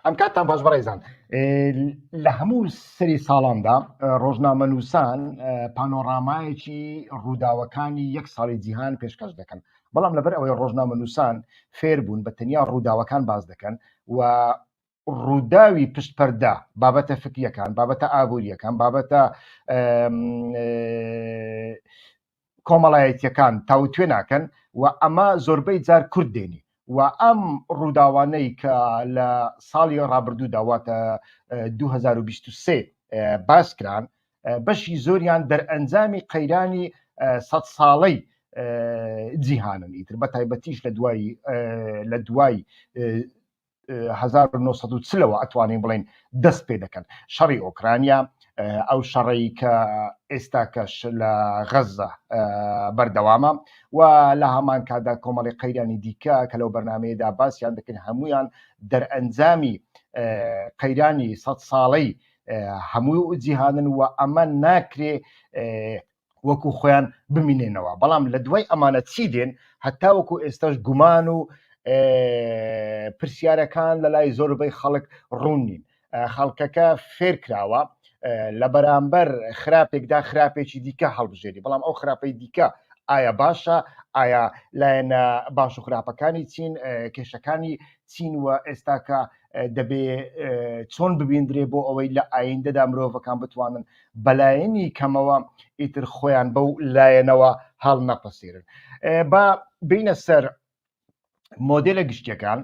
ئەم کاتتان باش بەڕێزان لە هەموو سری ساڵاندا ڕۆژنامە نووسان پانۆڕامایەکی ڕووداوەکانی یەک ساڵی جیهان پێشکەش دەکەن بەڵام لەبەر ئەوەی ڕۆژنامە نووسان فێر بوون بە تەنیا ڕووداوەکان باز دەکەن و ڕووداوی پشت پەردە بابەتە فکریەکان بابەتە ئابوووریەکان بابەتە کۆمەڵایەتەکان تاوتێ ناکەن و ئەمە زۆربەی جار کورد دێنی و ئەم ڕووداوانەی کە لە ساڵی ڕابردوو داواتە 2023 باسکران بەشی زۆریان دەرئەنجامی قەیرانی سە ساڵەی جیهانن ئیتر بە تایبەتیش لە دوای لە دوای 1940ەوە ئەتوانین بڵین دەست پێ دەکەن شەڕی ئۆکرانیا ئەو شەڕەی کە ئێستا کەش لە غەزە بەردەوامە و لە هەمان کادا کۆمەڵی قەیرانی دیکە کە لەو بەرنمەیەدا باسییان دەکەن هەمویان دەرئەنجامی قەیرانی سە ساڵەی هەموو جیهانن و ئەمە ناکرێ وەکو خۆیان بمینێنەوە بەڵام لە دوای ئەمانە چی دێن هەتا وەکو ئێستاش گومان و پرسیارەکان لە لای زۆربەی خەڵک ڕوون نین خەڵکەکە فێر کراوە لە بەرامبەر خراپێکدا خراپێکی دیکە هەڵبژێری بەڵام ئەو خراپەی دیکە ئایا باشە ئایا لایەنە باش و خراپەکانی چین کێشەکانی چین و ئێستاکە دەبێ چۆن ببیندرێ بۆ ئەوەی لە ئایندەدا مرۆڤەکان بتوانن بەلایەنی کەمەوە ئیتر خۆیان بەو لایەنەوە هەڵنەپەسیرن با بینە سەر مۆدلە گشتەکان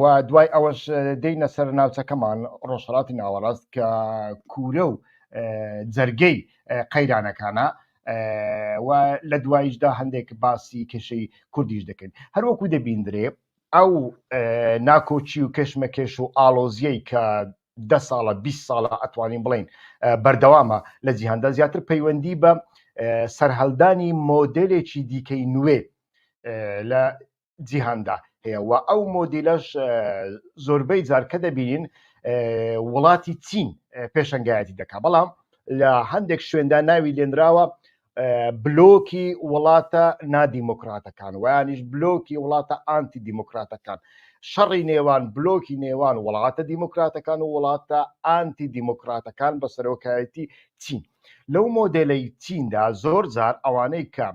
و دوای ئەوەش دینە سەر ناوچەکەمان ڕۆژهڵاتی ناوەڕاست کە کورە و جەرگەی قەیرانەکانە و لە دوایشدا هەندێک باسی کێشەی کوردیش دەکەین هەروەکو دەبیندرێ ئەو ناکۆچی و کەشمەکێش و ئالۆزیەی کە دە ساڵە بیست ساڵە ئەتوانین بڵین بەردەوامە لە جیهاندا زیاتر پەیوەندی بە سەرهەلدانی مۆدلێکی دیکەی نوێ لە جیهاندا هەیە و ئەو مۆدیلەش زۆربەی جارکە دەبین وڵاتی چین پێشنگایەتی دەکا بەڵام لە هەندێک شوێندا ناوی لێنراوە بلۆکی وڵاتە نادیموکراتەکان ویانیش بلۆکی وڵاتە ئانتی دیموکراتەکان شەڕی نێوان بلۆکی نێوان وڵاتە دیموکراتەکان و وڵاتە ئانتی دیموکراتەکان بە سەرۆکایەتی چین لەو مۆدلەی چیندا زۆر جار ئەوانەی کە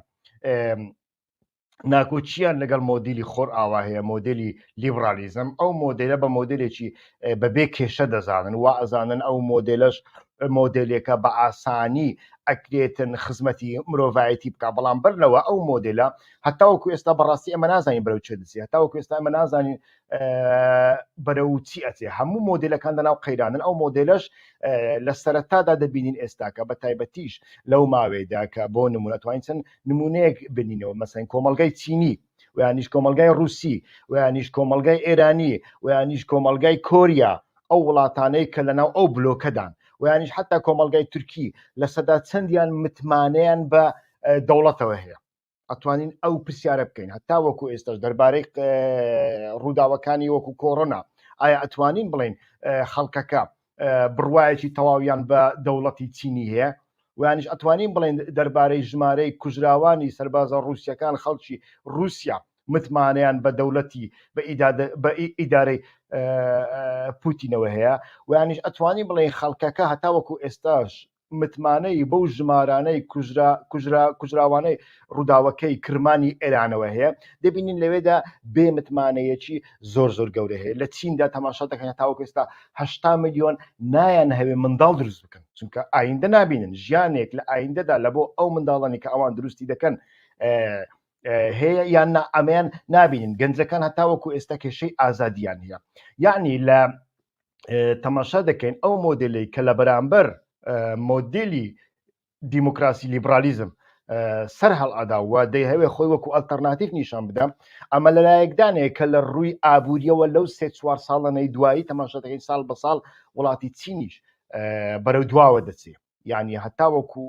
ناکۆکییان لەگەڵ مۆدیلی خۆر ئاوا هەیە مۆدلی لیبرالیزم ئەو مۆدلە بە مۆدلێکی بەبێ کێشە دەزانن و ئەزانن ئەو مۆدلش مۆدلێکە بە ئاسانی ئەکرێتن خزمەتی مرۆڤایەتی بکە بەڵام بەرنەوە ئەو مۆدلە هەتاوەکو ئێستا بەڕاستی ئەمە نازانین بەرەو چێ دەچێت هەتاوەکو ئێستا ئەمە نازانین بەرەو چی ئەچێ هەموو مۆدلەکان لەناو قەیرانن ئەو مۆدلش لە سەرەتادا دەبینین ئێستاکە بە تایبەتیش لەو ماوەیەدا کە بۆ نمونە توانین چەند نمونەیەک بنینەوە مەسەن کۆمەلگای چینی ویانیش کۆمەلگای رووسی ویانیش کۆمەلگای ئێرانی ویانیش کۆمەلگای کۆریا ئەو وڵاتانەی کە لەناو ئەو بلۆکەدان ویانیش حتا کۆمەلگای تورکی لە سەدا چەندیان متمانەیان بە دەوڵەتەوە هەیە ئەتوانین ئەو پرسیارە بکەین هەتا وەکو ئێستاش دەربارەی ڕووداوەکانی وەکو کۆڕۆنا ئایا ئەتوانین بڵین خەڵکەکە بڕواایەکی تەواویان بە دەوڵەتی چینی هەیە وانش ئەتوانین بڵێن دەربارەی ژمارەی کوژراوانی سربازە ڕوسیەکان خەڵکی رووسیا متمانیان بە دەولەتی بە ئیدارەی پوتینەوە هەیە وانش ئەتوانی بڵێن خەڵکەکە هەتاوەکو ئێستاش متمانەی بەو ژمارانەی کوژراوانەی ڕووداوەکەی کرمانی ئێرانەوە هەیە دەبینین لەوێدا بێ متمانەیەکی زۆر زۆر گەورە هەیە لە چیندا تەماشا دەکەن تاوەکو ئێستا هشتا میلیۆن نایەن هەوێ منداڵ دروست بکەن چونکە ئایندە نبینن ژیانێک لە ئایندەدا لە بۆ ئەو منداڵانی کە ئەوان دروستی دەکەن هەیە یان نا ئەمەیان نبینین گەنجەکان هەتاوەکو ئێستا کێشەی ئازادیان هەیە یعنی لە تەماشا دەکەین ئەو مۆدلی کە لە بەرامبەر مۆدلی دیموکراسی لیبرالیزم سەر هەڵادا و دەیهوێ خۆی وەکو ئەلتەرناتیف نیشان بدەم ئەمە لە لایەکدانەیە کە لە ڕووی ئابوووریەوە لەو سێ چوار ساڵەنەی دوایی تەماشەتەکەی ساڵ بە ساڵ وڵاتی چینیش بەرەو دواوە دەچێت یعنی هەتاوەکو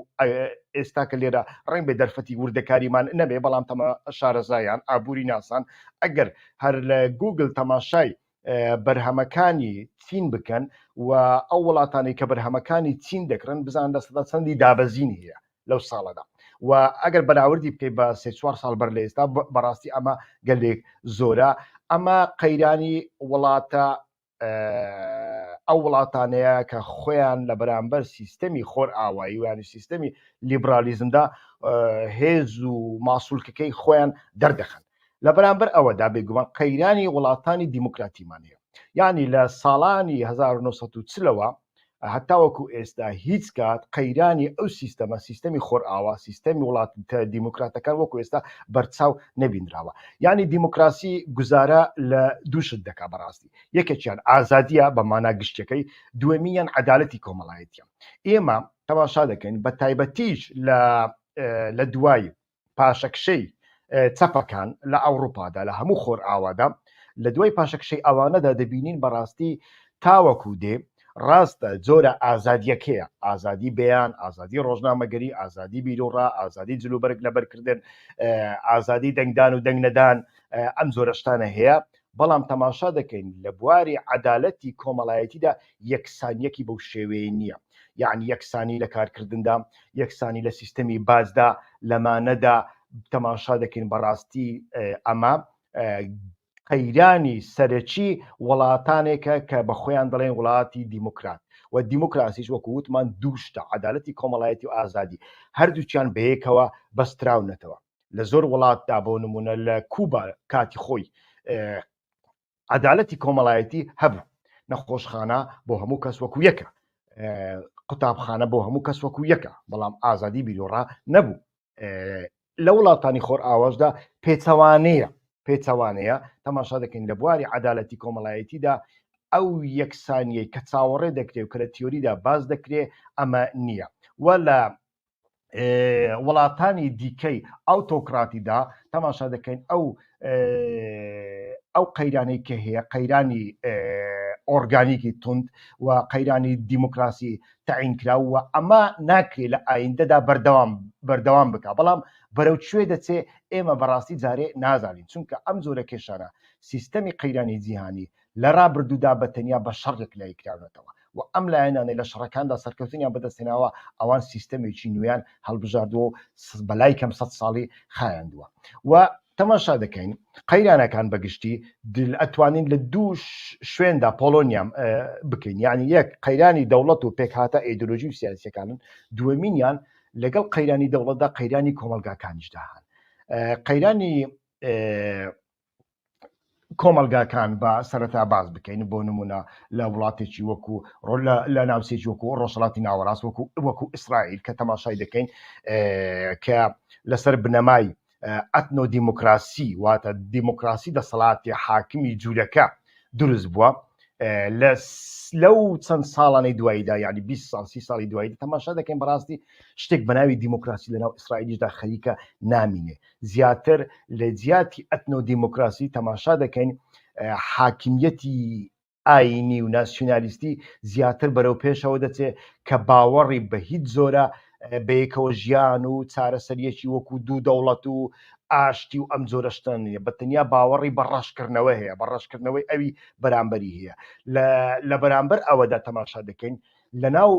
ئێستا کە لێرە ڕنگ بێ دەرفەتی وردەکاریمان نەبێ بەڵام تەمە شارەزایان ئابووری ناسان ئەگەر هەر لە گوگل تەماشای بەرهەمەکانی چین بکەن و ئەو وڵاتانی کە بەرهەمەکانی چین دەکرن بزان لە سەدا چەندی دابەزینی هەیە لەو ساڵەدا و ئەگەر بەراوردی بکەیت بە سێ چوار ساڵ بەر لە ئێستا بەڕاستی ئەمە گەلێک زۆرە ئەمە قەیرانی وڵاتە ئەو وڵاتانەیە کە خۆیان لە بەرامبەر سیستەمی خۆر ئاوایی ویانی سیستەمی لیبرالیزمدا هێز و ماسوولکەکەی خۆیان دەردەخن لە بەرامبەر ئەوەدا بێگومان قەیرانی وڵاتانی دیموکراتیمانەیە یعنی لە ساڵانی 1940ەوە هەتاوەکو ئێستا هیچ کات قەیرانی ئەو سیستەمە سیستەمی خۆرئاوا سیستەمی وڵاتە دیموکراتەکان وەکو ئێستا بەرچاو نەبینراوە یعنی دیموکراسی گوزارە لە دووشت دەکا بەڕاستی یەکێکیان ئازادیە بە مانا گشتەکەی دوێمیان عدالەتی کۆمەڵایەتە ئێمە تەماشا دەکەین بە تایبەتیش لە لە دوای پاشەکشەی چەپەکان لە ئەوروپادا لە هەموو خۆر ئاوادا لە دوای پاشەکشەی ئەوانەدا دەبینین بەڕاستی تاوەکو دێ ڕاستە جۆرە ئازادیەکەیە ئازادی بەیان ئازادی ڕۆژنامەگەری ئازادی بیرۆڕا ئازادی جلوبەرگ لەبەرکردن ئازادی دەنگدان و دەنگنەدان ئەم جۆرەشتانە هەیە بەڵام تەماشا دەکەین لە بواری عەدالەتی کۆمەڵایەتیدا یەکسانیەکی بەو شێوەیە نییە یەعنی یەکسانی لە کارکردندا یەکسانی لە سیستەمی باجدا لەمانەدا تەماشا دەکەین بەڕاستی ئەمە قەیرانی سەرەکی وڵاتانێکە کە بە خۆیان دەڵێن وڵاتی دیموکرات و دیموکراسیش وەکو وتمان دووشتە عدالەتی کۆمەڵایەتی و ئازادی هەردووچیان بەیەکەوە بەستراونەتەوە لە زۆر وڵاتدا بۆ نمونە لە کوبا کاتی خۆی عدالەتی کۆمەڵایەتی هەبوو نەخۆشخانە بۆ هەموو کەس وەکو یەکە قوتابخانە بۆ هەموو کەس وەکو یەکە بەڵام ئازادی بیرۆڕا نەبوو لە وڵاتانی خۆر ئاواشدا پێچەوانەیە پێچەوانەیە تەماشا دەکەین لە بواری عدالەتی کۆمەڵایەتیدا ئەو یەکسانیەی کە چاوەڕێ دەکرێت و کە لە تیۆریدا باز دەکرێت ئەمە نییە و لە وڵاتانی دیکەی ئەو تۆکراتیدا تەماشا دەکەین ئەو ئەو قەیرانەی کە هەیە قەیرانی ئۆرگانیکی تند و قەیرانی دیموکراسی تعینکرا و ئەمە ناکرێت لە ئایندەدا بەردەوام بەردەوام بک بەڵام بەرەو کوێ دەچێ ئێمە بەڕاستی جارێ نازانین چونکە ئەم زۆرە کێشانە سیستەمی قەیرانی جیهانی لە رابردوودا بە تەنیا بە شەڕ یەکلایی کراونەتەوە و ئەم لایەنانەی لە شەڕەکاندا سەرکەوتنیان بەدەستهێناوە ئەوان سیستەمێکی نوێیان هەڵبژاردووە و بەلای کەم سەد ساڵی خایاندووە و تەماشا دەکەین قەیرانەکان بەگشتی ئەتوانین لە دوو شوێندا پۆلۆنیام بکەین یعنی یەک قەیرانی دەوڵەت و پێکهاتە ئەیدۆلۆژی و سیاسەکانن دووەمینیان لەگەڵ قەیرانی دەوڵەتدا قەیرانی کۆمەلگاکانیشدا هەن قەیرانی کۆمەلگاکان بە سەرەتا باز بکەین بۆ نمونە لە وڵاتێکی وەکو لە ناوسێکی وەکو ڕۆژڵاتی ناوەڕاست وەکو وەکو ئیسرائیل کە تەماشای دەکەین کە لەسەر بنەمای ئەتنۆ دیموکراسی واتە دیموکراسی دەسەڵاتی حاکمی جوورەکە دروست بووە لە لەو چەند ساڵانەی دواییدا یعنی 20 سال سی ساڵی دوایی تەماشا دەکەین بەڕاستی شتێک بەناوی دیموکراسی لەناو ئیسرائیلیشدا خەریکە نامینێ زیاتر لە جیاتی ئەتنۆ دیموکراسی تەماشا دەکەین حاکمیەتی ئاینی و ناسیونالیستی زیاتر بەرەو پێشەوە دەچێت کە باوەڕی بە هیچ زۆرە بەیەکەوە ژیان و چارەسەریەکی وەکو دوو دەوڵەت و ئاشتی و ئەم جۆرەشتان نیە بە تەنیا باوەڕی بە ڕەشکردنەوە هەیە بە ڕەشکردنەوەی ئەوی بەرامبەری هەیە لە بەرامبەر ئەوەدا تەماشا دەکەین لە ناو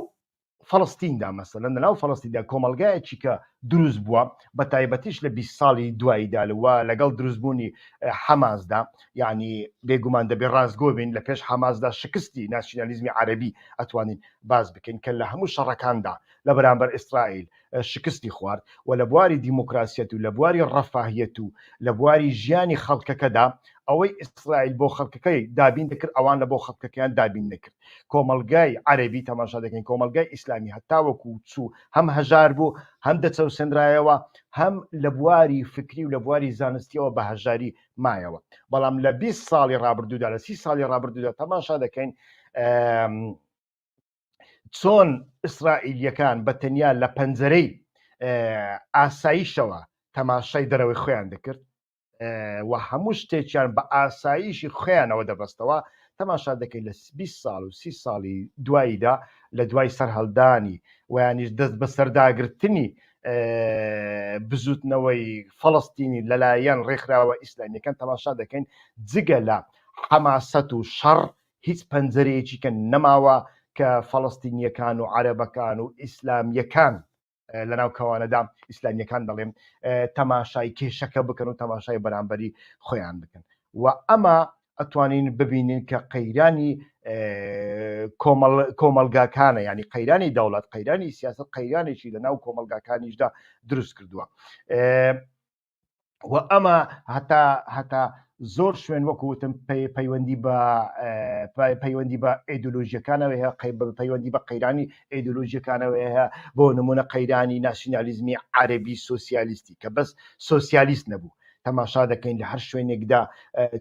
فەڵستیندا مەسەلە لەناو فەڵستیدا کۆمەلگایەکی کە دروست بووە بە تایبەتیش لە 20 ساڵی دواییدا لەوە لەگەڵ دروستبوونی حەماسدا یعنی بێگومان دەبێ ڕاستگۆ بین لە پێش حەماسدا شکستی ناسیۆنالیزمی عەربی ئەتوانین باز بکەین کە لە هەموو شەڕەکاندا لە بەرامبەر ئیسرائیل شکستی خوارد و لە بواری دیموکراسیەت و لە بواری ڕەفاهیەت و لە بواری ژیانی خەڵکەکەدا ئەوەی ئیسرائیل بۆ خەڵکەکەی دابین دەکرد ئەوان لە بۆ خەڵکەکەیان دابین نەکرد کۆمەڵگای عەرەبی تەماشا دەکەین کۆمەلگای ئیسلامی هەتاوەکو چوو هەم هەژار بوو هەم دەچەوسێنرایەوە هەم لە بواری فکری و لە بواری زانستیەوە بە هەژاری مایەوە بەڵام لە 20 ساڵی ڕابردوودا لە سی ساڵی ڕابردوودا تەماشا دەکەین چۆن ئیسرائیلییەکان بە تەنیا لە پەنجەرەی ئاساییشەوە تەماشای دەرەوەی خۆیان دەکرد و هەموو شتێکیان بە ئاساییشی خۆیانەوە دەبەستەوە تەماشا دەکەین لە 20 ساڵ و سی ساڵی دواییدا لە دوای سەرهەڵدانی ویانیش دەست بە سەرداگرتنی بزوتنەوەی فەڵستینی لەلایەن ڕێکخراوە ئیسلامیەکان تەماشا دەکەین جگە لە حەماسەت و شەڕ هیچ پەنجەرەیەکی کە نەماوە کە فەڵەستینیەکان و عەرەبەکان و ئیسلامیەکان لەناو کەوانەدا ئیسلامیەکان دەڵێم تەماشای کێشەکە بکەن و تەماشای بەرامبەری خۆیان بکەن و ئەمە ئەتوانین ببینین کە قەیرانی کۆمەلگاکانە ینی قەیرانی دەوڵەت قەیرانی سیاست قەیرانێکی لە ناو کۆمەلگاکانیشدا دروست کردووە و ئەمە هەتا هەتا زۆر شوێن وەکوتم پەیوەندی بە پەیوەندی بە ئەیدۆلۆژیەکانەوە هەیە قەی بە پەیوەندی بە قەیرانی ئەیدۆلۆژیەکانەوە هەیە بۆ نمونە قەیرانی ناسیۆنالیزمی عربی سوسیالیستی کە بەس سوسیالیست نەبوو تەماشا دەکەین لە هەر شوێنێکدا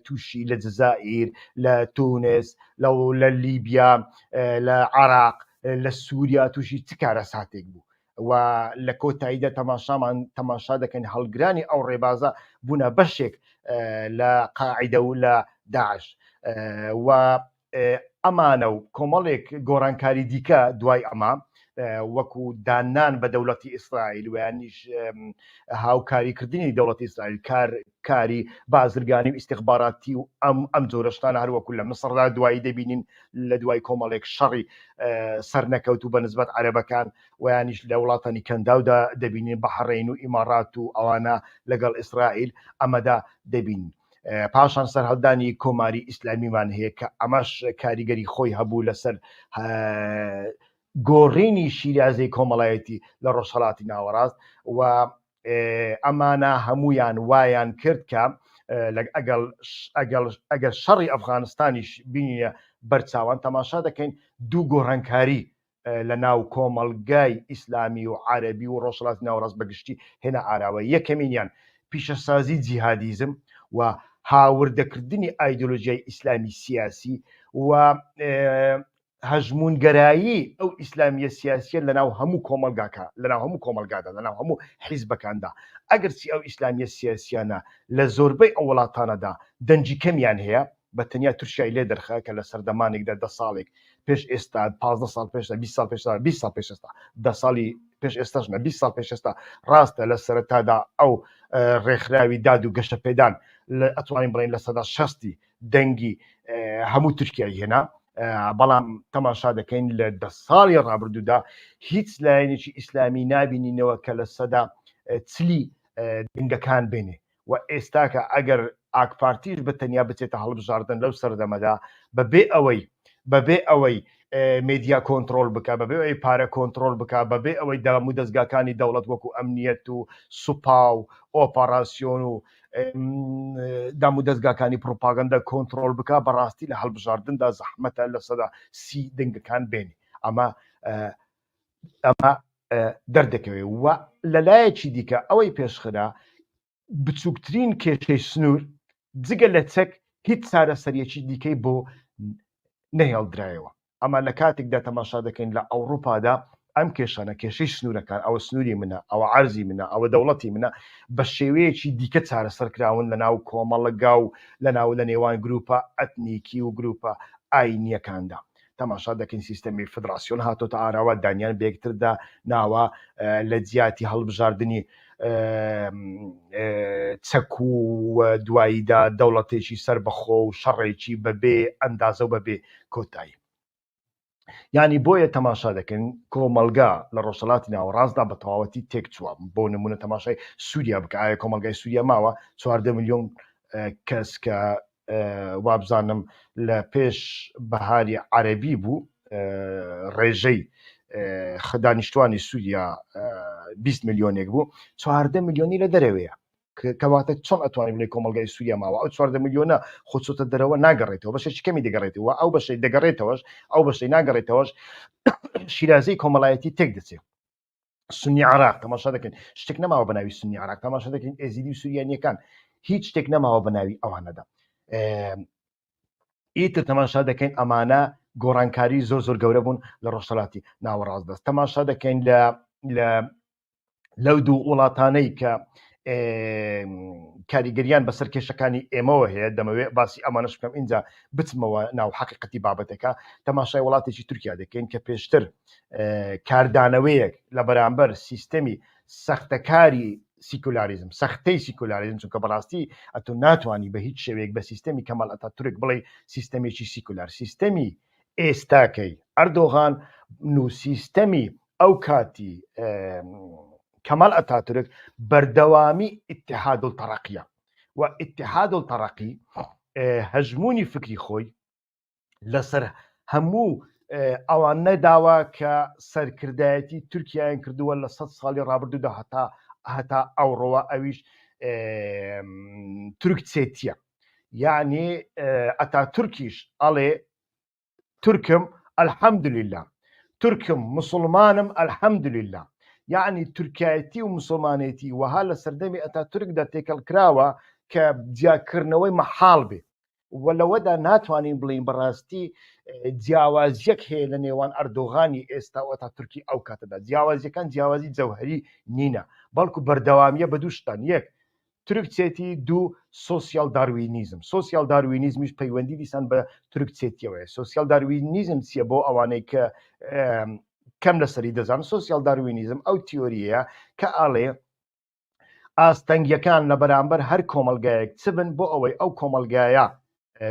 تووشی لە جززائیر لە تونس لە لە لیبیا لە عراق لە سووریا تووشی چ کارە ساتێک بوو و لە کۆتاییدا تەماشامان تەماشا دەکەین هەڵگرانی ئەو ڕێبازە بوونە بەشێک لە قاعدە و لە داعش و ئەمانە و کۆمەڵێک گۆڕانکاری دیکە دوای ئەمە وەکو دانان بە دەوڵەتی ئیسرائیل ویانیش هاوکاریکردنی دەوڵەتی ئیسرائیل کار کاری بازرگانی و ئیستیخباراتی و ئەم ئەم جۆرە شتانە هەر وەکو لە میسڕدا دوایی دەبینین لە دوای کۆمەڵێک شەڕی سەرنەکەوت و بە نسبەت عەرەبەکان ویانیش لە وڵاتانی کەنداودا دەبینین بە حەڕین و ئیمارات و ئەوانە لەگەڵ ئیسرائیل ئەمەدا دەبینین پاشان سەرهەڵدانی کۆماری ئیسلامیمان هەیە کە ئەمەش کاریگەری خۆی هەبوو لەسەر گۆڕینی شیرازەی کۆمەڵایەتی لە ڕۆژهڵاتی ناوەڕاست و ئەمانە هەموویان وایان کرد کە ئەگەر شەڕی ئەفغانستانیش بینە بەرچاوان تەماشا دەکەین دوو گۆڕانکاری لە ناو کۆمەڵگای ئیسلامی و عربی و ڕۆژڵات ناوڕاست بەگشتی هێنا ئاراوە یەکەمینیان پیشەسازی جیهادیزم و هاوردەکردنی ئایدۆلۆژیای ئیسلامی سیاسی و هەژموونگەرایی ئەو ئیسلامیە سیاسیە لەناو هەموو کۆمەلگاکە لەناو هەموو کۆمەلگادا لەناو هەموو حیزبەکاندا ئەگەرچی ئەو ئیسلامیە سیاسیانە لە زۆربەی ئەو وڵاتانەدا دەنگی کەمیان هەیە بە تەنیا تورکیای لێ دەرخە کە لە سەردەمانێکدا دە ساڵێک پێش ئێستا 15 ساڵ پێشدا 20 ساڵ پێشدا 20 ساڵ پێش ئێستا دە ساڵی پێش ئێستاش نە 20 ساڵ پێش ئێستا ڕاستە لە سەرەتادا ئەو ڕێکخراوی داد و گەشە پێدان لە ئەتوانین بڵین لە سەدا شەستی دەنگی هەموو تورکیای هێنا بەڵام تەماشا دەکەین لە دە ساڵی ڕابردوودا هیچ لایەنێکی ئیسلامی نبینینەوە کە لە سەدا چلی دەنگەکان بێنێ و ئێستاکە ئەگەر ئاکپارتیش بە تەنیا بچێتە هەڵبژاردن لەو سەردەمەدا بەبێ ئەوەی بەبێ ئەوەی مێدیا کۆنترۆل بکە بەبێ ئەوەی پارە کۆنترۆل بکە بەبێ ئەوەی دام و دەستگاکانی دەوڵەت وەکو ئەمنیەت و سوپا و ئۆپەڕاسیۆن و دام و دەستگاکانی پروپاگەندە کۆنترۆل بکە بەڕاستی لە هەڵبژاردندا زەحمەتە لە سەدا سی دەنگەکان بێنی ئەمە ئەمە دەردەکەوێ و لە لایەکی دیکە ئەوەی پێشخرا بچووکترین کێشەی سنوور جگە لە چەک هیچ چارەسەریەکی دیکەی بۆ نەهێڵدرایەوە ئەمە لە کاتێکدا تەماشا دەکەین لە ئەوروپادا ئەم کێشانە کێشەی سنوورەکان ئەوە سنووری منە ئەوە عرضی منە ئەوە دەوڵەتی منە بە شێوەیەکی دیکە چارەسەر کراون لە ناو کۆمەڵگا و لە ناو لە نێوان گروپە ئەتنیکی و گروپە ئاینیەکاندا تەماشا دەکەین سیستەمی فدراسیۆن هاتۆتە ئاراوە دانیان بەیەکتردا ناوە لە جیاتی هەڵبژاردننی چەک و دواییدا دەوڵەتێکی سەر بەخۆ و شەڕێکی بەبێ ئەندازە و بەبێ کۆتایی ینی بۆیە تەماشا دەکەن کۆمەلگا لە ڕۆژەڵاتی ناوەڕاستدا بە تەواوەتی تێک چووە بۆ نمونە تەماشای سووریا بکە ئایا کۆمەلگای سووریا ماوە چواردە میلیۆن کەس کە وابزانم لە پێش بەهاری عەرەبی بوو ڕێژەی دانیشتوانی سووریا 20 ملیۆنێک بوو چواردە ملیۆنی لە دەرەوەیە کەواتە چۆن ئەتوانین بڵێ کۆمەلگای سووریا ماوە ئەو چواردە ملیۆنە خۆچۆتە دەرەوە ناگەڕێتەوە بەشێکی کەمی دەگەڕێتەوە ئەو بەشەی دەگەڕێتەوەش ئەو بەشەی ناگەڕێتەوەش شیرازەی کۆمەڵایەتی تێک دەچێت سنی عراق تەماشا دەکەین شتێک نەماوە بە ناوی سنی عراق تەماشا دەکەین ئێزیدی و سوریانیەکان هیچ شتێک نەماوە بە ناوی ئەوانەدا ئیتر تەماشا دەکەین ئەمانە گۆڕانکاری زۆر زۆر گەورە بوون لە ڕۆژهڵاتی ناوەڕاست دەست تەماشا دەکەین لە لە لەو دوو وڵاتانەی کە کاریگەریان بەسەر کێشەکانی ئێمەوە هەیە دەمەوێت باسی ئەمانش بکەم اینجا بچمەوە ناو حقیقەتی بابەتەکە تەماشای وڵاتێکی تورکیا دەکەین کە پێشتر کاردانەوەیەک لە بەرامبەر سیستەمی سەختەکاری سیکولاریزم سەختەی سیکولاریزم چونکە بەڕاستی ئەتو ناتوانانی بە هیچ شێوەیەک بە سیستەمی کەمەڵ ئەتا تورک بڵێ سیستەمێکی سیکولار سیستەمی ئێستاکەی ئەردۆغان نو سیستەمی ئەو کاتی کەمەڵ ئەتا تورک بەردەوامی اتحاد و تەڕقیە و اتحاد و تەڕقی هەژمونی فکری خۆی لەسەر هەموو ئەوان نەداوە کە سەرکردایەتی تورکیایان کردووە لە سە ساڵی ڕابردوودا هەتا هەتا ئەوڕەوە ئەویش تورک چێتیە یعنی ئەتا تورکیش ئەڵێ تورکم ئەلحەمدلیلا تورکم مسلمانم ئەلحەمدلیلا یعنی تورکایەتی و مسلمانێتی وەها لە سەردەمی ئەتا تورکدا تێکەڵ کراوە کە جیاکردنەوەی مەحاڵ بێ وە لەوەدا ناتوانین بڵێین بەڕاستی جیاوازیەک هەیە لە نێوان ئەردۆغانی ئێستا و تا تورکی ئەو کاتەدا جیاوازیەکان جیاوازی جەوهری نینە بەڵکو بەردەوامیە بە دووشتان یەک ترکچێتی دوو سوسیال داروینیزم سوسیال داروینیزمیش پەیوەندی دیسان بە ترکچێتیەوەی سوسیال داروینیزم چییە بۆ ئەوانەی کە کەم لەسەری دەزان سوسیال داروینیزم ئەو تیۆریە کە ئاڵێ ئاستەنگیەکان لە بەرامبەر هەر کۆمەلگایەک چ بن بۆ ئەوەی ئەو کۆمەلگایە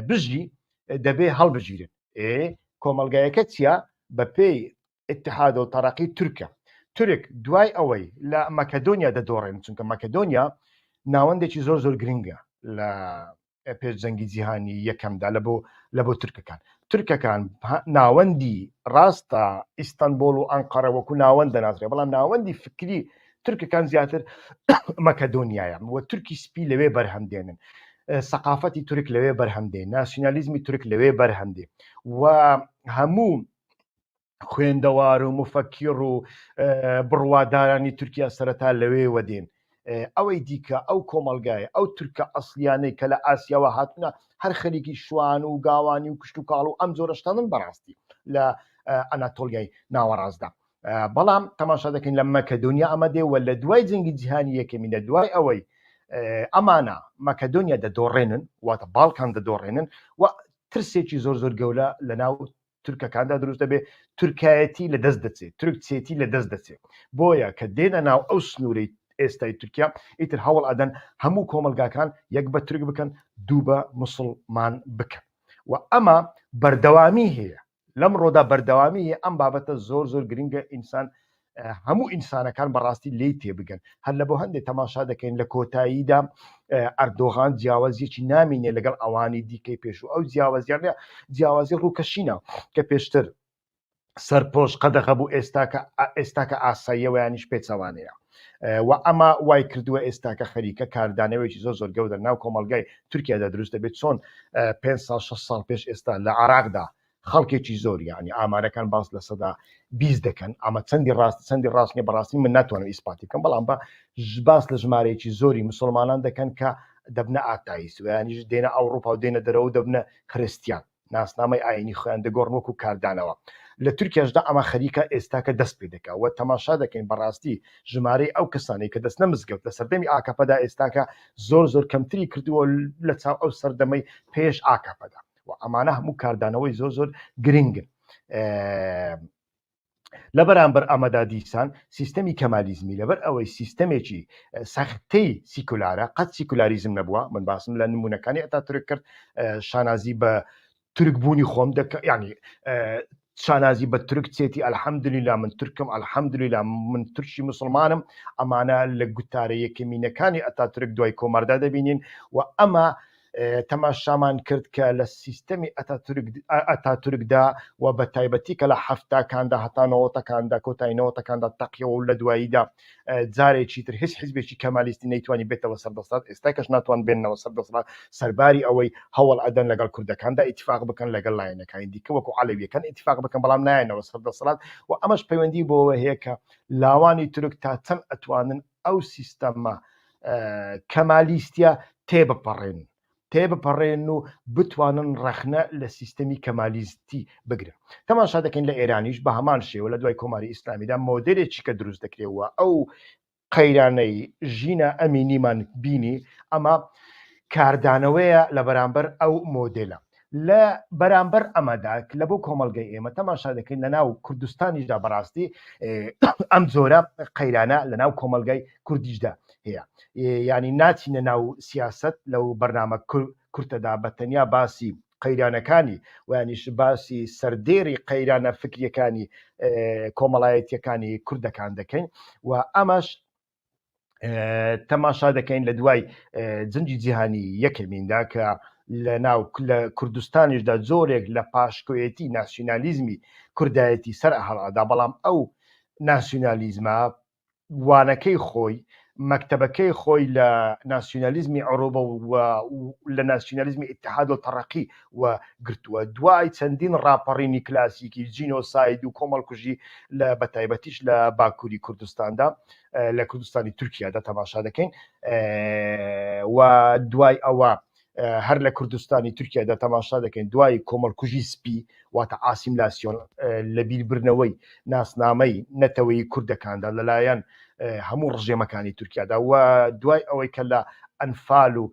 بژی دەبێ هەڵبژیرن ئێ کۆمەلگایەکە چیە بە پێی اتحاد و تەرەقی تورکە تورک دوای ئەوەی لە مەکەدۆنیا دەدۆڕێن چونکە مەکەدۆنیا ناوەندێکی زۆر زۆر گرنگە لە پێش جەنگی جیهانی یەکەمدا لە بۆ لە بۆ ترکەکان ترکەکان ناوەندی ڕاستە ئیستانبول و ئەنقەرە وەکو ناوەند دەناسرێ بەڵام ناوەندی فکری ترکەکان زیاتر مەکەدۆنیایە وە تورکی سپی لەوێ بەرهەم دێنن سەقافەتی تورک لەوێ بەرهەمدێ ناسیۆنالیزمی تورک لەوێ بەرهەمدێ و هەموو خوێندەوار و مفەکیڕ و بڕوادارانی تورکیا سەرەتا لەوێ وەدێن ئەوەی دیکە ئەو کۆمەلگای ئەو تورکە ئەسلیانەی کە لە ئاسیاوە هاتنە هەر خەریکی شوان و گاوانی و کشت و کاڵ و ئەم جۆرەشتا من بەڕاستی لە ئەناتۆلیای ناوەڕاستدا بەڵام تەماشا دەکەین لە مەکە دنیا ئەمە دێ و لە دوای جنگی جیهانی یەکەمی لە دوای ئەوەی ئەمانە مەکەدۆنیا دەدۆڕێنن واتە باڵکان دەدۆڕێنن و ترسێکی زۆر زۆر گەورە لە ناو تورکەکاندا دروست دەبێت تورکایەتی لە دەست دەچێت تورک چێتی لە دەست دەچێت بۆیە کە دێنە ناو ئەو سنوورەی ئێستای تورکیا ئیتر هەوڵ ئەدەن هەموو کۆمەلگاکان یەک بە تورک بکەن دوو بە مسلمان بکەن و ئەمە بەردەوامی هەیە لەم ڕۆدا بەردەوامی ئەم بابەتە زۆر زۆر گرنگە ئینسان هەموو ئینسانەکان بەڕاستی لی تێبگەن هەر لە بۆ هەندێک تەماشا دەکەین لە کۆتاییدا ئەردۆغان جیاوازیەکی نامینێ لەگەڵ ئەوانی دیکەی پێش و ئەو جیاوازیانە جیاوازی ڕووکەشینە کە پێشتر سەرپۆش قەدەغە بوو ئێستاکە ئێستاکە ئاساییەوەیانیش پێچەوانەیە و ئەمە وای کردووە ئێستاکە خەریکە کاردانەوەیکی زۆر زۆر گەودە ناو کۆمەلگای تورکیادا دروست دەبێت چۆن 5 سال 6 سال پێش ئێستا لە عراقدا خەڵکێکی زۆر یعنی ئامارەکان باس لە سەدا بیست دەکەن ئەمە چەندی ڕاست چەندی ڕاستنی بەڕاستی من ناتوانم ئیسپاتی بکەم بەڵام بە باس لە ژمارەیەکی زۆری مسلمانان دەکەن کە دەبنە ئاتاییس ویانیش دێنە ئەوروپا و دێنە دەرەوە دەبنە خرستیان ناسنامەی ئاینی خۆیان دەگۆڕن وەکو کاردانەوە لە تورکیاشدا ئەمە خەریکە ئێستا کە دەست پێ دەکە و تەماشا دەکەین بەڕاستی ژمارەی ئەو کەسانی کە دەستنە مزگەوت لە سەردەمی ئاکەپەدا ئێستاکە زۆر زۆر کەمتری کردووە لە چاو ئەو سەردەمەی پێش ئاکەپەدا و ئەمانە هەموو کاردانەوەی زۆر زۆر گرنگن لە بەرامبەر ئەمەدا دیسان سیستەمی کەمالیزمی لەبەر ئەوەی سیستەمێکی سەختەی سیکولارە قەت سیکولاریزم نەبووە من باسم لە نمونونەکانی ئەتا ترک کرد شانازی بە ترکبوونی خۆم دەکە ینی شانازی بە تورک چێتی الحمدللە من تورکم الحمدللە من تورکی مسلمانم ئەمانە لە گوتارە یەکەمینەکانی ئەتاتورک دوای کۆماردا دەبینین و ئەمە تەماشامان کرد کە لە سیستەمی ئەتاتورکدا و بە تایبەتی کە لە هەفتاکاندا هەتانەوەتەکاندا کۆتاینەوەتەکاندا تەقیەوە و لە دواییدا جارێکی تر هیچ حزبێکی کەمالیستی نەیتوانی بێتەوە سەر دەسەڵات ئێستا کەش ناتوان بێنەوە سەر دەسەڵات سەرباری ئەوەی هەوڵ ئەدەن لەگەڵ کوردەکاندا ئیتفاق بکەن لەگەڵ لایەنەکانی دیکە وەکو عەلەویەکان ئیتفاق بکەن بەڵام نایەنەوە سەر دەسەڵات و ئەمەش پەیوەندی بۆەوە هەیە کە لاوانی تورک تا چەند ئەتوانن ئەو سیستەمە کەمالیستە تێبپەڕێن تێبپەڕێن و بتوانن ڕەخنە لە سیستەمی کەمالیستی بگرن تەماشا دەکەین لە ئێرانیش بە هەمان شێوە لە دوای کۆماری ئیسلامیدا مۆدلێکی کە دروست دەکرێەوە ئەو قەیرانەی ژینا ئەمینیمان بینی ئەمە کاردانەوەیە لە بەرامبەر ئەو مۆدلە لە بەرامبەر ئەمەدا لە بۆ کۆمەلگەی ئێمە تەماشا دەکەین لە ناو کوردستانیشدا بەڕاستی ئەم جۆرە قەیرانە لە ناو کۆمەلگای کوردیشدا هەیە ینی ناچینە ناو سیاست لەو بەرنامە کورتەدا بە تەنیا باسی قەیرانەکانی ویانیش باسی سەردێری قەیرانە فکریەکانی کۆمەڵایەتیەکانی کوردەکان دەکەین و ئەمەش تەماشا دەکەین لە دوای جنگی جیهانی یەکەمیندا کە لە ناو لە کوردستانیشدا زۆرێک لە پاشکۆیەتی ناسیونالیزمی کوردایەتی سەر هەڵادا بەڵام ئەو ناسیونالیزمە وانەکەی خۆی مەکتتەبەکەی خۆی لە ناسیونالیزمی عروبە و لە ناسیونالیزمی اتحاد و تەڕقی و گرتووە دوای چەندین ڕاپەڕینی کلاسیکی جینۆساید و کۆمەڵکوژی لە بەتایبەتیش لە باکووری کوردستاندا لە کوردستانی تورکیادا تەماشا دەکەین و دوای ئەوە هەر لە کوردستانی تورکیادا تەماشا دەکەین دوای کۆمەڵکوژی سپی واتە ئاسیملاسیۆن لە بیربرنەوەی ناسنامەی نەتەوەی کوردەکاندا لەلایەن هەموو ڕژێمەکانی تورکیادا و دوای ئەوەی کە لە ئەنفال و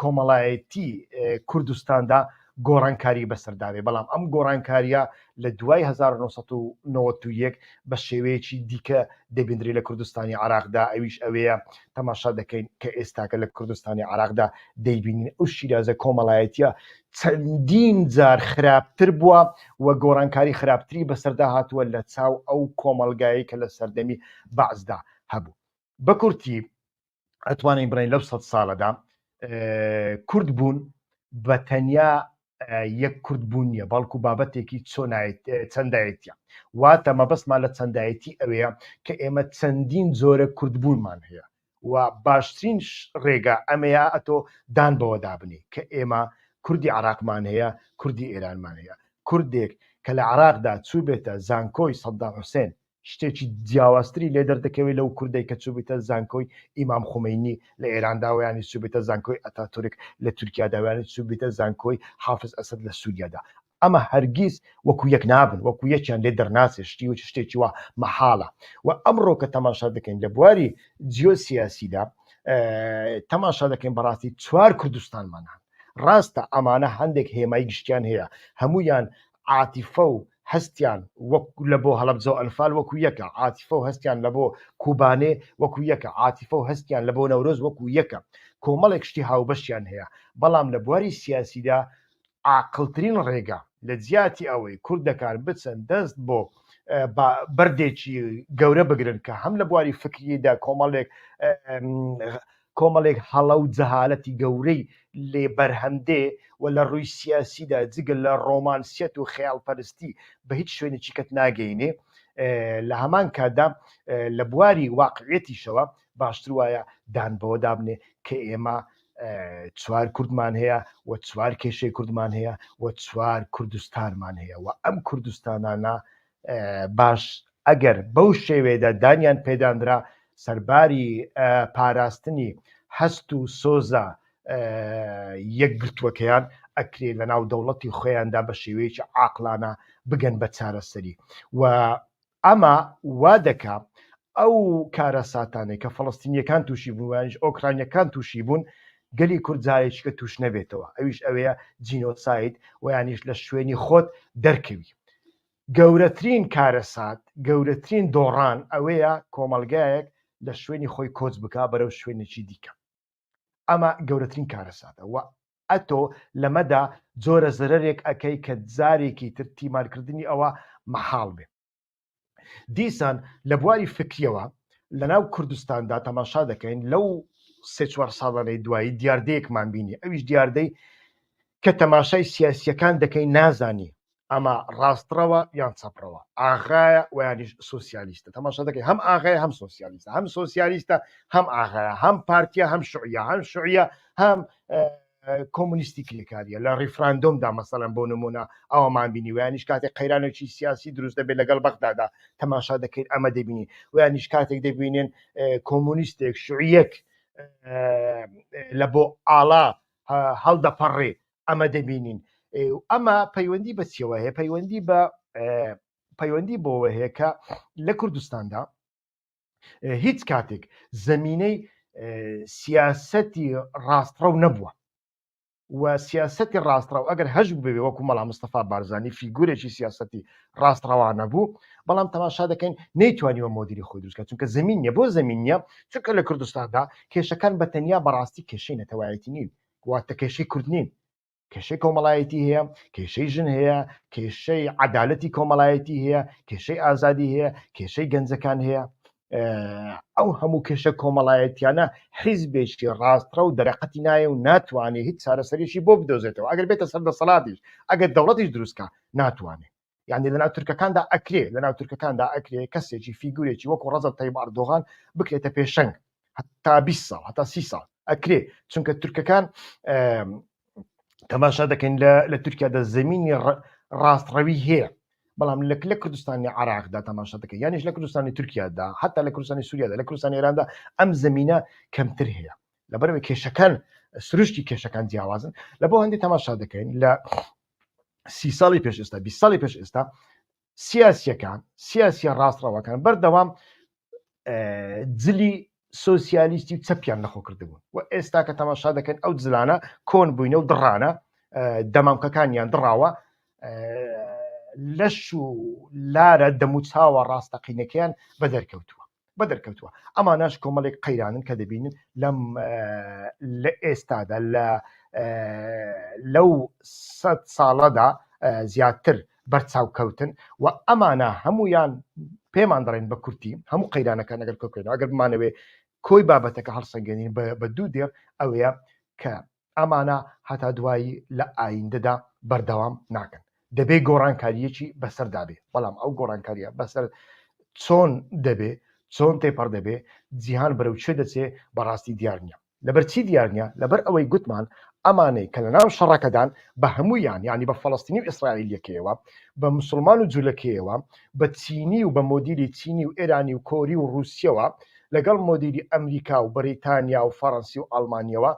کۆمەڵایەتی کوردستاندا گۆڕانکاری بەسەرداێ بەڵام ئەم گۆڕانکاریە لە دوای 1991 بە شێوەیەکی دیکە دەبیندری لە کوردستانی عراقدا ئەویش ئەوەیە تەماشا دەکەین کە ئێستاکە لە کوردستانی عراقدا دەیبینین ئەو شیرازە کۆمەڵایەتە چەندین جار خراپتر بووە و گۆڕانکاری خراپتری بەسەردا هاتووە لە چاو ئەو کۆمەلگایی کە لە سەردەمی بەعزدا هەبوو بەکورتی ئەتوانین بڵێن لەو سەد ساڵەدا کورد بوون بە تەنیا یەک کورد بوون نیە بەڵکو بابەتێکی چۆنایت چەندایەتە واتە مەبەستمان لە چەندایەتی ئەوەیە کە ئێمە چەندین جۆرە کوردبوونمان هەیە و باشترین ڕێگا ئەمەیە ئەتۆ دان بەوە دابنی کە ئێمە کوردی عراقمان هەیە کوردی ئێرانمان هەیە کوردێک کە لە عراقدا چوو بێتە زانکۆی سەددا حوسێن شتێکی جیاوازتری لێ دەردەکەوێت لەو کوردێک کە چوبیتە زانکۆی ئیمام خومینی لە ئێراندا ویانی چوبیتە زانکۆی ئەتا تورک لە تورکیا داویانی چوبیتە زانکۆی حافز ئەسد لە سووریادا ئەمە هەرگیز وەکو یەک نابن وەکو یەکیان لێ دەرناچێت شتی و شتێکی وە مەحاڵە و ئەمڕۆ کە تەماشا دەکەین لە بواری جیۆ سیاسیدا تەماشا دەکەین بەڕاستی چوار کوردستانمانان ڕاستە ئەمانە هەندێک هێمای گشتیان هەیە هەمویان عاتیفە و هەستیان وەک لە بۆ هەڵەبجە و ئەنفال وەکو یەکە، عاتیفە و هەستیان لە بۆ کوبانێ وەکو یەکە، عاتیفە و هەستیان لە بۆ نەورۆز وەکو یەکە. کۆمەڵێک شتی هاوبەشیان هەیە، بەڵام لە بواری سیاسیدا عاقڵترین ڕێگا، لە جیاتی ئەوەی کوردەکان بچن دەست بۆ بەردێکی گەورە بگرن کە هەم لە بواری فکریدا کۆمەڵێک کۆمەڵێک هەڵە و جەهالەتی گەورەی لێ بەرهەم دێ و لە ڕووی سیاسیدا جگە لە ڕۆمانسیەت و خەیاڵپەرستی بە هیچ شوێنێکی کەت ناگەینێ. لە هەمان کاتدا لە بواری واقعیەتیشەوە باشتر وایە دان بەوە دابنێ کە ئێمە چوار کوردمان هەیە و چوار کێشەی کوردمان هەیە و چوار کوردستانمان هەیە و ئەم کوردستانانە باش ئەگەر بەو شێوەیەدا دانیان پێدانرا سەرباری پاراستنی هەست و سۆزە یەکگرتووەکەیان ئەکرێ لە ناو دەوڵەتی خۆیاندا بە شێوەیەکی عاقلانە بگەن بە چارەسەری و ئەمە وا دەکا ئەو کارەساتانێک کە فەڵستینیەکان تووشی بووانش ئۆکرانیەکان تووشی بوون گەلی کورد جارێکیکە توش نەبێتەوە ئەویش ئەوەیە جینۆسایت ویانیش لە شوێنی خۆت دەرکەوی گەورەترین کارەسات، گەورەترین دۆڕان ئەوەیە کۆمەڵگایەک لە شوێنی خۆی کۆچ بکا بەرەو شوێنێکی دیکە. ئەمە گەورەترین کارەساتە و ئەتۆ لەمەدا جۆرە زەرەرێک ئەکەی کە جارێکی تر تیمارکردنی ئەوە مەحاڵ بێ. دیسان لە بواری فکرییەوە لە ناو کوردستاندا تەماشا دەکەین لەو سێ چوار ساڵانەی دوایی دیاردەیەکمان بینی ئەویش دیاردەی کە تەماشای سیاسییەکان دەکەی نازانی ئەمە ڕاستڕەوە یان چەپڕەوە ئاغایە ویانیش سوسیالیستە تەماشا دەکەی هەم ئاغای هەم سوسیالیستە هەم سوسیالیستە هەم ئاغایە هەم پارتیە هەم شعە هەم شعە هەم کۆمونیستی کلکاریە لە ڕیفراندۆمدا مەسەلەن بۆ نمونە ئەومان بینی ویانیش کاتێک قەیرانێکی سیاسی دروست دەبێت لەگەڵ بەغدادا تەماشا دەکەیت ئەمە دەبینی ویانیش کاتێک دەبینێن کۆمونیستێک شعیەک لە بۆ ئاڵا هەڵدەپەڕێ ئەمە دەبینین ئەمە پەیوەندی بە چیەوە هەیە پەیوەندی بە پەیوەندی بۆەوە هەیە کە لە کوردستاندا هیچ کاتێک زمینەی سیاستی ڕاستڕەو نەبووە و سیاستی ڕاستڕەو ئەگەر هەش ببێ وەکو مەڵام مستەفا بارزانانی فیگورێکی سیاستی ڕاستڕەوانە بوو بەڵام تەماشا دەکەین نەیتوانیوە مۆدیری خۆی دروستکە چونکە زمین نیە بۆ زمین نیە چونکە لە کوردستاندا کێشەکان بە تەنیا بەڕاستی کێشەی نەتەوایەتی نین واتە کێشەی کورد نین کێشەی کۆمەڵایەتی هەیە کێشەی ژن هەیە کێشەی عدالەتی کۆمەڵایەتی هەیە کێشەی ئازادی هەیە کێشەی گەنجەکان هەیە ئەو هەموو کێشە کۆمەڵایەتیانە حیزبێکی ڕاستڕە و دەرەقەتی نایە و ناتوانێت هیچ چارەسەرێکی بۆ بدۆزێتەوە ئەگەر بێتە سەر دەسەڵاتیش ئەگەر دەوڵەتیش دروستکە ناتوانێت یعنی لە ناو تورکەکاندا ئەکرێ لە ناو تورکەکاندا ئەکرێ کەسێکی فیگورێکی وەکو ڕەزە تەیب ئەردۆغان بکرێتە پێشەنگ هەتا 20 ساڵ هەتا سی ساڵ ئەکرێ چونکە تورکەکان تەماشا دەکەین لە تورکیادا زمینی ڕاستڕەوی هەیە بەڵام لەک لە کوردستانی عراقدا تەماشا دەکە یانیش لە کوردستانی تورکیادا حتا لە کوردستانی سووریادا لە کوردستانی ئێراندا ئەم زمینە کەمتر هەیە لەبەرەوەی کێشەکان سروشتی کێشەکان جیاوازن لە بۆ هەندی تەماشا دەکەین لە سی ساڵی پێش ئێستا بی ساڵی پێش ئێستا سیاسیەکان سیاسیە ڕاستڕەوەکان بەردەوام جلی سوسیالیستی و چەپیان نەخۆ کردبوون و ئێستا کە تەماشا دەکەن ئەو جلانە کۆن بووینە و دڕانە دەمامکەکانیان دڕاوە لەش و لارە دەموچاوە ڕاستەقینەکەیان بە دەرکەوتووە بە دەرکەوتووە ئەماناش کۆمەڵێک قەیرانن کە دەبینن لەم لە ئێستادا لە لەو سە ساڵەدا زیاتر بەرچاوکەوتن و ئەمانە هەمویان پێمان دەڵێن بە کورتی هەموو قەیرانەکان نەگەر کۆکرێنەوە ئەگەر بمانەوێ کۆی بابەتەکە هەڵسەنگێنین بە دوو دێڕ ئەوەیە کە ئەمانە هەتا دوایی لە ئایندەدا بەردەوام ناکەن دەبێ گۆڕانکاریەکی بەسەردا بێ بەڵام ئەو گۆڕانکاریە بەسەر چۆن دەبێ چۆن تێپەڕ دەبێ جیهان بەرەو چێ دەچێ بەڕاستی دیار نیە لەبەر چی دیار نیە لەبەر ئەوەی گوتمان ئەمانەی کە لە ناو شەڕەکەدان بە هەموویان ینی بە فەڵستنی و ئیسرائیلەکەیەوە بە مسلمان و جولەکەیەوە بە چینی و بە مۆدیلی چینی و ئێرانی و کۆری و رووسیەوە لەگەڵ مۆدیلی ئەمریکا و بەریتانیا و فەڕەنسی و ئەڵمانیەوە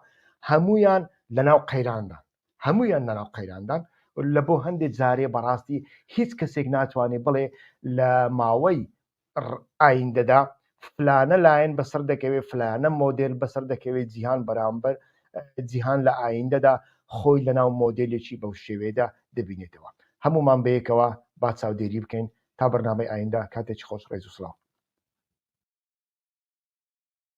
هەموویان لەناو قەیراندان هەموویان لەناو قەیراندان لە بۆ هەندێک جارێ بەڕاستی هیچ کەسێک ناتوانێت بڵێ لە ماوەی ئایندەدا فلانە لایەن بەسەر دەکەوێت فلانە مۆدل بەسەر دەکەوێت جیهان بەرامبەر جیهان لە ئایندەدا خۆی لەناو مۆدلێکی بەو شێوێدا دەبینێتەوە هەمومان بەیەکەوە با چاودێری بکەین تا بەرنامەی ئایندا کاتێکی خۆش ڕێز و سلااو